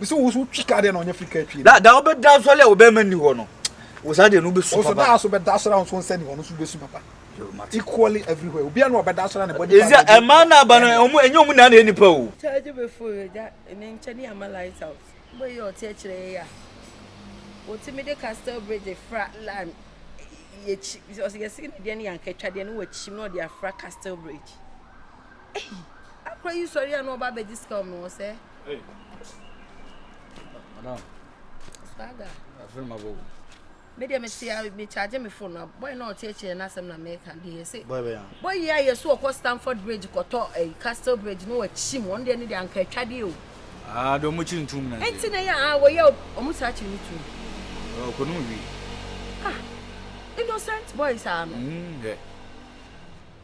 bisi wo so twi ka deɛ na ɔnyɛ firi ka twi da da wobɛda asɔre a wobɛma nni hɔ no wo saa deɛ no wobɛsu papa ɔsɔ da so bɛda asɔre a nso nsɛ nni hɔ no so wobɛsu papa equally everywhere obia no ɔbɛda asɔre a ne bɔde ɛzi a ɛma no aba no ɛnyɛ ɔmu na na nipa o kyɛgye bɛfo ɛgya ne nkyɛ ne ama light out wobɛ yɛ ɔte akyerɛ yɛ a wɔtumi de castle bridge fra line yɛkyi ɔsɛ yɛsi ne deɛ ne yɛnkatwa deɛ ne wɔkyim na ɔde afra castle bridge Ei, akora yi sɔre a na ɔba abɛgye sika ɔmene wɔ sɛ. Ei. Madam. Swagger. Afiri ma bɔ. Me deɛ mete a me charge me phone na boy na ɔte akyire na asɛm na meka deɛ yɛse. Boy bɛyɛ. Boy yi ayɛ so ɔkɔ Stamford Bridge kɔtɔ eh, Castle Bridge no wakyim wɔn deɛ ne deɛ anka atwadeɛ o. Ah, deɛ ɔmo kyiri ntum na. Ɛnti na yɛ ah wɔyɛ ɔmo saa kyiri ntum. Ɔkɔ no wi. Ah, innocent boy saa no. Mm, yeah.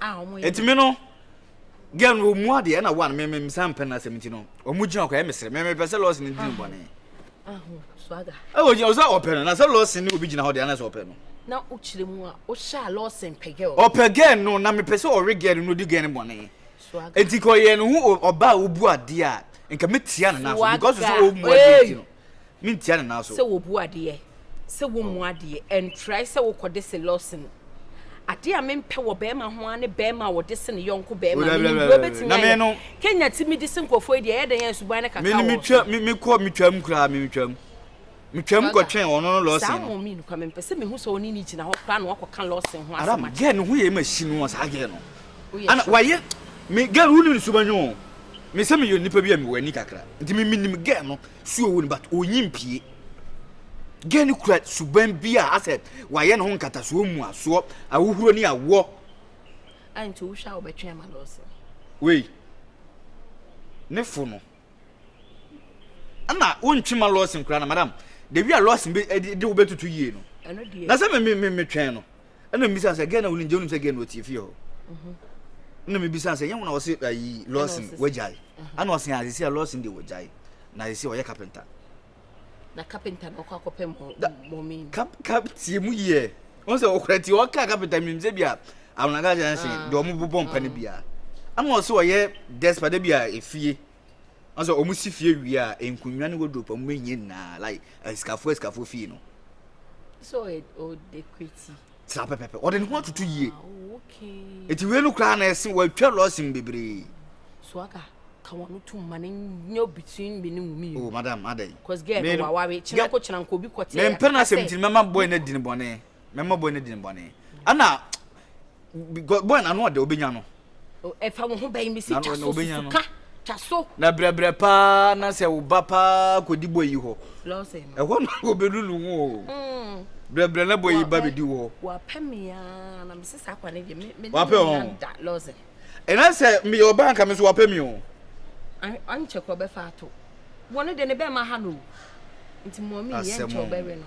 a ɔmo yɛ. Eti me no, girl no ɔmu adeɛ ɛna one me me san mpɛ n'asɛm nti no ɔmu gyina ɔkɔ ɛyɛ me sere me me pɛ sɛ lɔɔsi ne diri bɔne. Aho swaga. Ɛwɔ gyina ɔsɛ ɔpɛ no na sɛ lɔɔsi ne obi gyina hɔ deɛ anasɛ ɔpɛ no. Na o kyerɛ mu a o hyɛ a lɔɔsi mpɛ girl. Ɔpɛ girl no na me pɛ sɛ ɔwe girl no na odi girl no bɔne. Swaga. Eti kɔ yɛ ne ho ɔba a obu adeɛ a nka me tia ne nan so because so ɔmu adeɛ nti no. mentia ne nan so. Sɛ wobu adeɛ, sɛ wommu adeɛ, ɛntrae sɛ wokɔde se lɔsen. Adeɛ a mempɛ wɔ barima ho ara ne barima a ɔde se ne yɔnko barima. Oh, Menim deɛ wobɛtumi ayɛ. No, Kenya ti medi se nkurɔfoɔ yi deɛ ɛyɛ dɛn a suban no kaka wɔ so. Mekɔ metwam koraa, metwam. Metwam kɔtwɛn ɔno no lɔsen no. Saa mom yi no koraa mempɛ sɛ mehu sɛ ɔne no gyina hɔ koraa na wakɔka lɔsen ho asɛm akyerɛ no. Adam, girl no ho yɛ ma hyi no, saa girl no. Ana wayɛ me girl woni ne suban oo me sɛ meyɛ nipa bi a mewɔ ani kakra nti me menim girl no su ɔwɔ ni but ɔnyi mpie girl no kura suban bi a asɛ wayɛ ne ho nkatasoɔ mu asoɔ ahohuro ne awoɔ nti wohwɛ a wobɛtwɛn ma lɔse wei ne fo no ɛna wontwe ma lɔse nkora na madam da wi a lɔse de wobɛtutu yie no na sɛ metwɛn no ɛna mebisa sɛ gɛn na wonim gye wonim sɛ gɛn na ɔtie fie hɔ ɛna mebisa sɛ nyɛ wo na ɔse ayi lawson wagyae ɛna ɔse a sisi a lawson de wagyae na sisi ɔyɛ kapenta na kapenta na ɔkɔ akɔpɛ mɔmi kap kap tie mu yie wɔn sɛ ɔkura tie ɔka kapenta mi sɛ bi a awonaka kyerɛ sɛ deɛ ɔmo bobɔ mpa no bi a ɛna ɔse ɔyɛ despa de bi a efie Ɔsɛ wɔn si fie wie a, nkonnwa ne wardrobe a wɔn bɛhia nyinaa like asikafoɔ asikafoɔ fie no. So ɔde kweti. Saa pɛpɛpɛ ɔde ne ho atutu yie. Ah, Eti wei no koraa na ɛsen wɔatwa lɔɔsin bebree. So aka ka wɔn no tum ma ne nyɛ between me ne mu mmienu. Oh madam adɛn. Cause girl no waware kyinako kyinako obi kɔte. Mempɛ na asɛm ti mɛma boy na di ne bɔne. mɛma boy no di ne bɔne ɛna boy na ano ɔdɛ obenya no ɛfa wo ho bɛyi me si twa so susuka twa so na brɛbrɛ paa na sɛ wo ba paa kɔdi boy yi hɔ ɛhɔ na wɔbɛlulu ho o mm. brɛbrɛ na boy yi ba bɛdi hɔ wapɛ meaa na mese saa kwa no deɛ wapɛ ɔ ɛna sɛ meyɛ ɔba nka me so wapɛ me o ankyɛ kɔ bɛfa ato wɔne deɛ ne bɛma ha no nti mɔmi yɛ nkyɛ ɔbɛwe no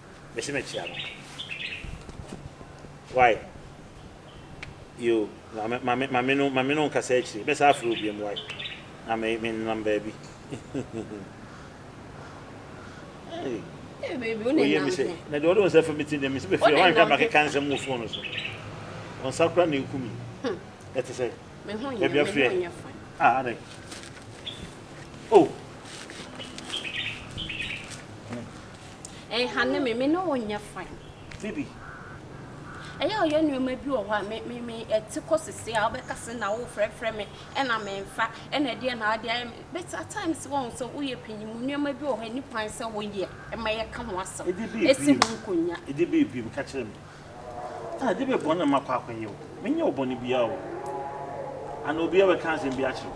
Mese mekyea no wai yoo Mame mame no mame no nkasa akyire mɛ saa frɛ obiam wai na me me nenam baabi Oye mese na deɛ ɔde nsa fa me ti deɛ mese bɛfiri hɔ anhwɛ makeka nsɛm wɔ fon no so ɔnsa kora na ɛku mi ɛte sɛ baabi afrɛ ah adɛn oh Ɛnhane me, me ne wo nyɛ fine. Phoebe. Ɛyɛ ɔyɛ nneɛma bi wɔ hɔ a me me me ɛte kɔ sese a wobɛka se na wo frɛfrɛ me ɛna me nfa ɛna ɛdeɛ na ade ayɛ me but at times wɔn sɛ woyɛ panyin mu nneɛma bi wɔ hɔ ɛni kwan sɛ woyɛ ɛma yɛ ka ho asɛm ɛsi ho nkonya. Ɛde bɛ ebiem ka kyerɛ me ah ɛde bɛ bɔn na makɔ akɔ yɛ o me nyɛ wo bɔne biara o ana obiara bɛka asɛm bi akyerɛ wo.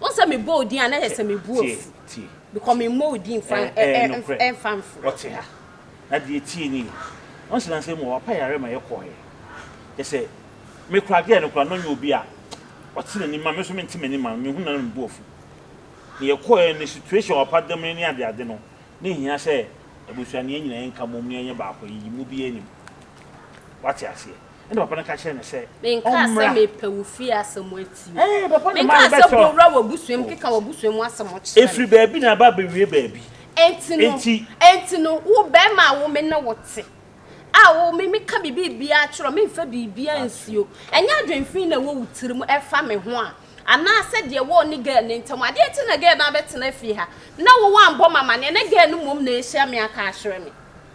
Wohu sɛ mebɔ wo din a, na ayɛ sɛ me bo afu, because memmɔ wo din mfa mforo. Wɔte ha, na deɛ ɛteɛ nie, once na sɛ mu a wapa yareɛ ma yɛkɔɔɛ, kyerɛ sɛ me koraa girl no koraa na ɔnyɛ obi a ɔte n'anim ma me nso mente m'anim ma no, mehu no a na me bo afu. Deɛ yɛkɔɔɛ no ne situation a wapa damire ne ade ade no, na ɛhia sɛ abusua no yɛn nyinaa yɛnka mmom na yɛnyɛ baako, yɛyi mu biara nim. Woate aseɛ? ɛna papa no ka kyerɛ no sɛ menkaa sɛ mepɛ wo fie asɛm atie Ee, papa na maa menkaa sɛ yɛbɛtɔ. bowura w'abusua mu keka w'abusua mu asɛm kyerɛ me Ɛfiri baabi na aba abɛwie baabi. Enti no, Enti. enti no, wo barima a wo me ne wo te, a wo me meka biribiara kyerɛ wo, memfa biribiara nsi o, ɛnyɛ adwemfii na ɛwɔ wo tiri mu ɛfa me ho a, anaasɛ deɛ ɛwɔ wo ne girl no ntam a, adeɛ nti na girl no abɛtena fie ha, na wo woambɔ me amanneɛ, na girl no mmom na ɛrehyia me aka akyerɛ me.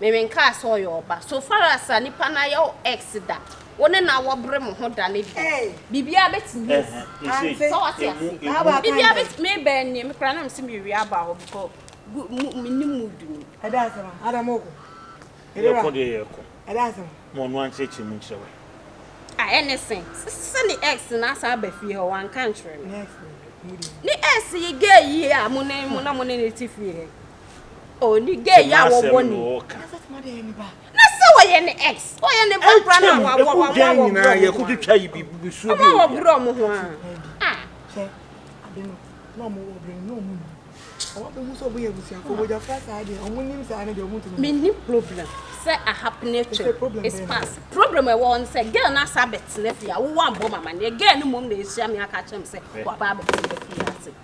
Merenkaa sɛ ɔyɛ ɔba. So far as a nipa no ayɛ wo ex da, wo ne no awɔbre mo ho da no deɛ, biribiara bɛtumi asi. So wate aseɛ? Biribiara bɛtumi, me bɛɛ nie, me koraa na mese merewie aba hɔ because good, menni mood no. Ɛda ase ma, ada mo ko. Yɛkɔ deɛ yɛkɔ. Ɛda ase ma. Ma ɔno ankyerɛkyerɛ mu nkyerɛ wo. Ah, ɛne se, sɛ ne ex no asan aba fie hɔ, wanka nkyerɛ me. Ne ex no. Ne ex yi gay yi a mo ne, mo na mo ne no te fie hɛ. Oni gay ya wo bɔ ni. Na sɛ ɔyɛ ne ex, ɔyɛ ne bɔ kura na wa wa wa wa wɔ bro. Yɛ ko twitwa yi bi bi suo bi. Wa wɔ bro mo ho a. Ah. Sɛ ade no na ɔmo wɔ bro no ɔmo ni. Ɔmo bɛ hu sɛ ɔmo yɛ busua ko bɔgya fra saa deɛ ɔmo nim saa ne deɛ ɔmo ntumi. Me ni problem sɛ a happening thing is past. Problem ɛwɔ hɔ no sɛ girl na sa bɛtena fie a wo wa bɔ mama ne girl no mom na esua me aka kyerɛ me sɛ wa ba bɛtena fie ase.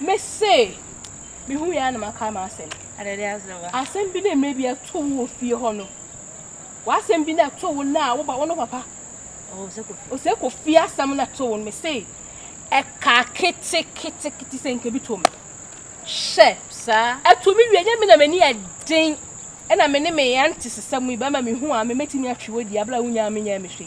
Me se, me hu yɛ na maka m'asɛm. Adade azewa. Asɛm bi na mmerɛ bi ɛto wo wɔ fie hɔ no. W'asɛm bi na ɛto wo na wo ba wo no papa. Ose kɔ fie asɛm na ɛto wo no. Me se, ɛka kete kete kete sɛ nka bi to me. Hyɛ. Saa. Ɛto me wie nyɛ me na m'ani ɛden. Ɛna me ne me auntie sesɛm yi bɛma me hu a me mɛtumi atwe wo di abla wo nyaa me nyaa me hwee.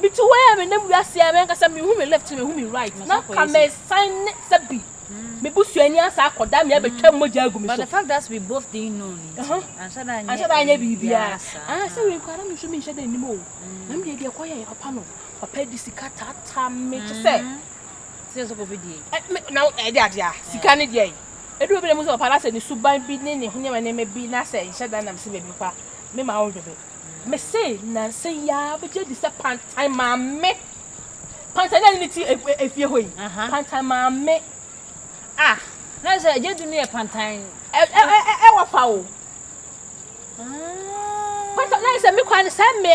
Mitu hɔ a menam wiase a m'ankasa minhu me left minhu me right na anka meresan ne sɛ bi me busuani asan akɔda me abɛtwa mogya agu me so. But the fact that we both didn't know nti anhyɛ da anyɛ anhyɛ da anyɛ biribiara saa. Ah sɛ wei koraa na me nso menhyɛ da nnim o na me deɛ deɛ ɛkɔ yɛɛ papa no papa di sika taataa me te sɛ sɛ sɛ kɔfɛ die na ɛde adeɛ a sika ne deɛ ɛdu baabi na mu sɛ papa na sɛ ne suban bi ne ne ho nneɛma nneɛma bi na sɛ nhyɛ da nam sɛ baabi papa me ma wo dwebe Mese nnansa yi ara migye di sɛ Pantan maame, Pantan na ne ti efie hɔ yi, Pantan maame. Ah, na sɛ gye du no yɛ Pantan. Ɛ ɛ ɛ ɛ wɔ fa o. Pantan na sɛ me kɔ ne sɛ me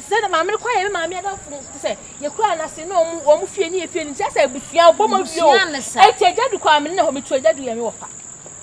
sɛ na maame kɔ yɛ me maame adafo no sɛ yɛ kura na se na ɔmo ɔmo fie ne yɛ fie ne sɛ sɛ ebusua ɔbɔ mo fie o. Eti gye du kɔ amene na hɔ me tu gye du yɛ me wɔ fa.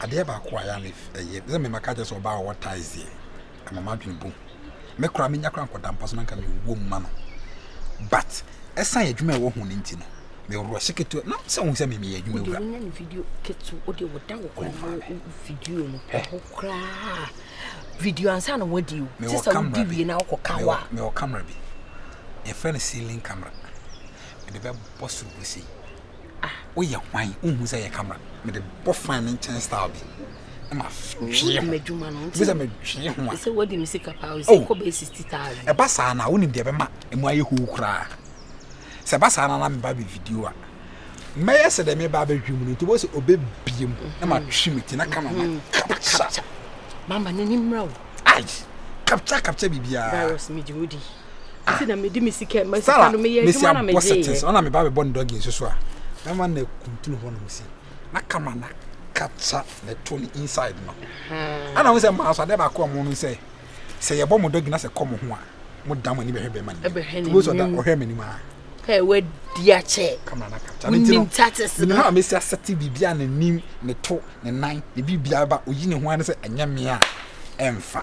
Adeɛ baako a ɛyɛ a me ɛyɛ sɛ me maka kyerɛ sɛ ɔbaa ɔwɔ ties deɛ ɛma m'adwene bom me koraa menya koraa nkɔda mpa so na nka mewɔ mu ma no but ɛsan adwuma a ɛwɔ ho no nti no mewɔ hyɛ ketewa na sɛ wohu sɛ me meyɛ adwuma wura wonya ne video ketewa wode woda wo kora no video no pɛ ho koraa video ansa na woadi o te sɛ wodi wie na wokɔ ka wo a mewɔ camera bi yɛfrɛ no ceiling camera mede bɛbɔ soro wɔ sei Ah woyɛ hwan wonhu sɛ yɛ camera mede bɔ fan ne nkyɛn style bi ɛma twee ho bi sɛ metwee ho a sɛ wadi me sika paa o sɛ oh. kɔ bɛyɛ sixty thousand ɛba saa na wonim deɛ ɛbɛma ɛmu ayɛ hoo koraa sɛ ɛba saa na na meba bɛ video a mɛyɛ sɛ dɛ meba bɛhwe mu no nti wɔsɛ ɔbɛbie mu na matwe me ti na kama ma mm. kapkya mama n'ani mmra o ai kapkya kapkya biribiaa virus megye wodi si na mede me sika ma sika no meyɛ adwuma na megye yɛ sɛ ɔna meba bɛbɔ ne dɔgi nso so a mɛma na kuntunu hɔ nom si na kama na kacha na to ne inside no ana ho sɛ maa so ade baako a mo no sɛ sɛ yɛbɔ mo dɔgi na sɛ kɔ mo ho a mo da mo ani bɛhwɛ bɛma ne ɛbɛhwɛ ne mu so da ɔhwɛ m'anim a pɛ wadi akyɛ kama na kacha ne ti no ne ha a mesi asɛte biribi a n'anim ne to ne nan ne biribi a ba oyi ne ho ano sɛ ɛnyɛ me a ɛmfa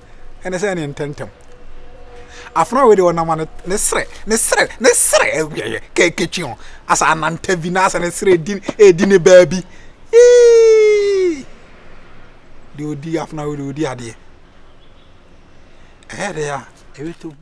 ɛne sɛ ɛne ntɛntɛm afena wei de ɔnama ne ne serɛ ne serɛ ne serɛ ɛyɛ kɛkɛtwi ho asa ananta bi na asa ne serɛ edi edi ne baabi yii deɛ odi afena wei de odi adeɛ ɛyɛ deɛ a ɛbɛtɔ mu.